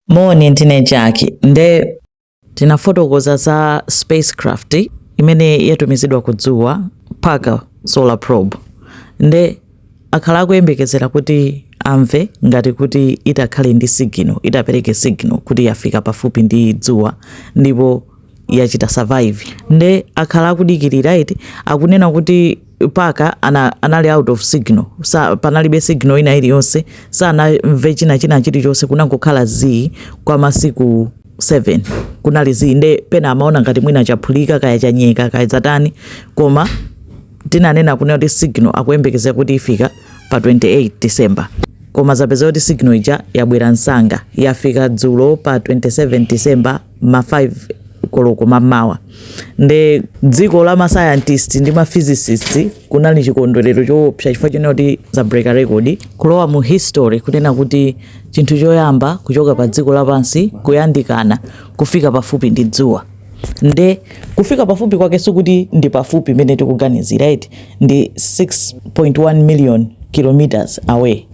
Moni, ndine Jackie. Nde tinafotokoza za spacecraft imene yatumizidwa ku dzuwa Parker solar probe. Nde akhala akuyembekezera kuti amve ngati kuti itakhale ndi signal, itapereke signal kuti yafika pafupi ndi dzuwa ndipo yachita survive. Nde akhala akudikirira eti akunena kuti Parker anali out of signal panalibe signal ina iliyonse sanamve china chilichonse kunangokhala zii kwa masiku 7 kunali zii nde pena amaona ngati mwina chaphulika kaya chanyeka kaya zatani koma tinanena kunena kuti signal akuyembekezera kuti ifika pa 28 december koma zapeza kuti signal ija yabwera msanga yafika dzulo pa 27 december ma 5 koloko mamawa nde dziko la mascientist ndi ma physicist kunali chikondwerero choopsa chifukwa chonena kuti zabreak record kulowa mu history kunena kuti chinthu choyamba kuchoka pa dziko lapansi kuyandikana kufika pafupi ndi dzuwa nde kufika pafupi kwake sikuti ndi pafupi mmene tikuganizira eti ndi 6.1 million kilometers away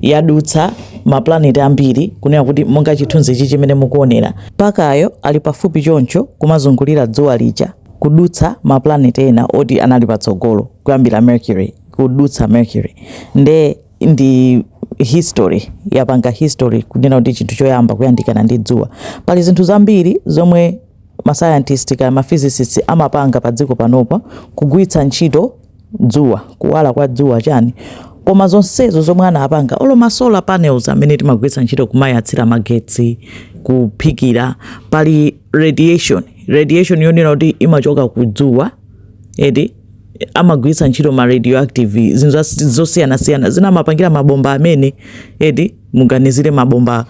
yadutsa mapulaneti ambiri, kunena kuti monga chithunzichi chimene mukuonera. Parker-yo ali pafupi choncho kumazungulira dzuwa lija, kudutsa mapulaneti ena oti anali patsogolo kuyambira Mercury, kudutsa Mercury nde ndi history yapanga history kunena kuti chinthu choyamba kuyandikana ndi dzuwa. Pali zinthu zambiri zomwe masayantisti kaya maphysicists amapanga pa dziko panopa kugwiritsa ntchito dzuwa kuwala kwa dzuwa chani koma zonsezo zomwe anapanga olo ma solar panels amene timagwiritsa ntchito kumayatsira magetsi kuphikira pali radiation radiation yonena kuti imachoka ku dzuwa eti amagwiritsa ntchito ma radioactive zinthu zosiyanasiyana zina amapangira mabomba amene eti muganizire mabomba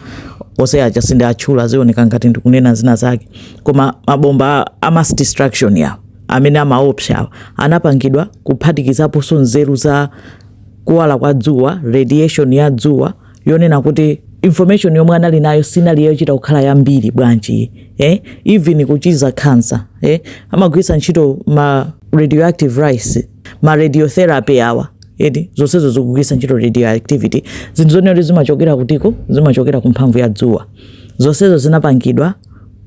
onse aja sindiwatchula zioneka ngati ndikunena zina zake koma mabomba a mass destruction aja amene amaopsawa anapangidwa kuphatikizaponso nzeru za kuwala kwa dzuwa radiation ya dzuwa yonena kuti information yomwe anali nayo sinali yochita kukhala yambiri bwanji eh? even kuchiza cancer eh? amagwiritsa ntchito ma radioactive rays ma radiotherapy awa eti zonsezo zikugwiritsa ntchito radioactivity zinthu zonena kuti zimachokera kutiko zimachokera ku mphamvu ya dzuwa zonsezo zinapangidwa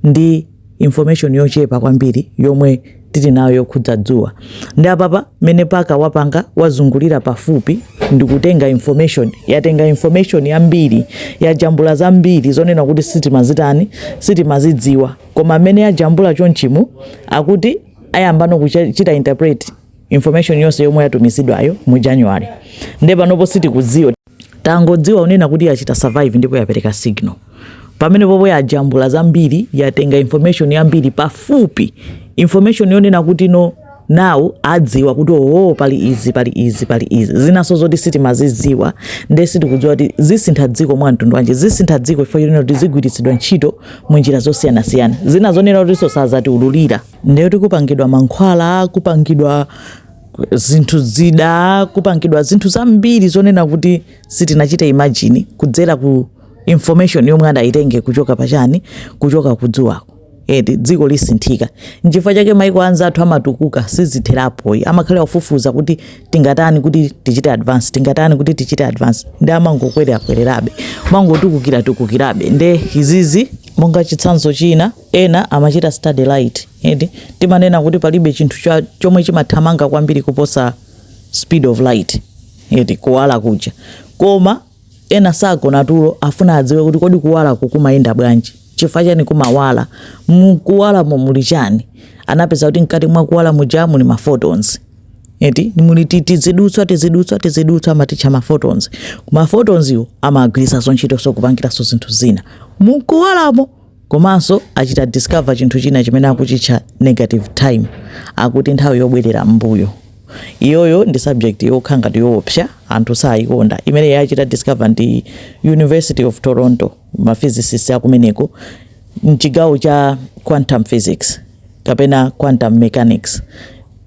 ndi information yochepa kwambiri yomwe tili nayo yokhudza dzuwa nde apapa mene paka wapanga wazungulira pafupi ndikutenga information yatenga information yambiri yajambula zambiri zonena kuti sitimazitani sitimazidziwa koma mmene yajambula chonchimu akuti ayambano kuchita interpret information yonse yomwe yatumizidwayo mu january nde panopo sitikudziwa Tangodziwa unena kuti yachita survive ndipo yapereka signal. Pamene popo yajambula zambiri, yatenga information yambiri pafupi. Information yonena kuti now adziwa kuti owo pali izi pali izi pali izi zinaso zoti sitimazidziwa nde sitikudziwa kuti zisintha dziko mwa mtundu wanji zisintha dziko chifukwa chonena kuti zigwiritsidwa ntchito mu njira zosiyanasiyana zina zonena kuti sazatiululira nde tikupangidwa mankhwala kupangidwa zinthu zida kupangidwa zinthu zambiri zonena kuti sitinachita imagine kudzera ku information yomwe adayitenge kuchoka pachani kuchoka kudzuwako eti dziko lisinthika nchifukwa chake maiko anzathu amatukuka sizitherapo amakhala ofufuza kuti tingatani kuti tichite advance tingatani kuti tichite advance ndi amangokwerera kwererabe amangotukukira tukukirabe nde izizi monga chitsanzo china Ena amachita study light eti. Timanena kuti palibe chinthu chomwe chimathamanga kwambiri kuposa speed of light eti kuwala kuja. Koma ena sagona tulo afuna adziwe kuti kodi kuwalaku kumayenda bwanji? Chifukwa chani kumawala? Mkuwalamo muli chani? Anapeza kuti mkati mwa kuwala muja muli ma photons. Eti muli tizidutswa tizidutswa tizidutswa amatitcha ma photons. Ma photons yo amagwiritsanso ntchito so kupangiranso zinthu zina. Mkuwalamo komanso achita discover chinthu china chimene akuchitcha negative time akuti nthawi yobwerera mbuyo iyoyo ndi subject yokha ngati yoopsa anthu sayikonda imene yachita discover ndi university of toronto maphysicists akumeneko mchigawo cha quantum physics kapena quantum mechanics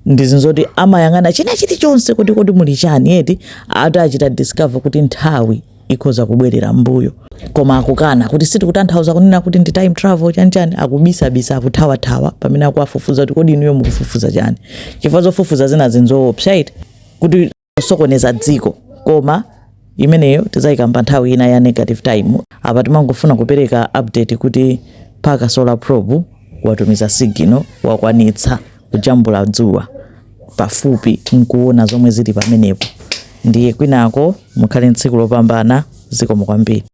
ndizinzo zoti amayang'ana china chilichonse kuti kodi muli chani eti ati achita discover kuti nthawi ikhoza kubwerera mbuyo koma akukana kuti sitikutanthauza kunena kuti ndi time travel chanichani akubisabisa akuthawathawa pamene akuwafufuza kuti kodi inuyo mukufufuza chani chifukwa zofufuza zina ndi zoopsa eti kuti osokoneza dziko koma imeneyo tizayikamba nthawi ina ya negative time apa timangofuna kupereka update kuti Parker solar probe watumiza signal wakwanitsa kujambula dzuwa pafupi nkuona zomwe zili pamenepo ndiye kwinako mukhale tsiku lopambana zikomo kwambiri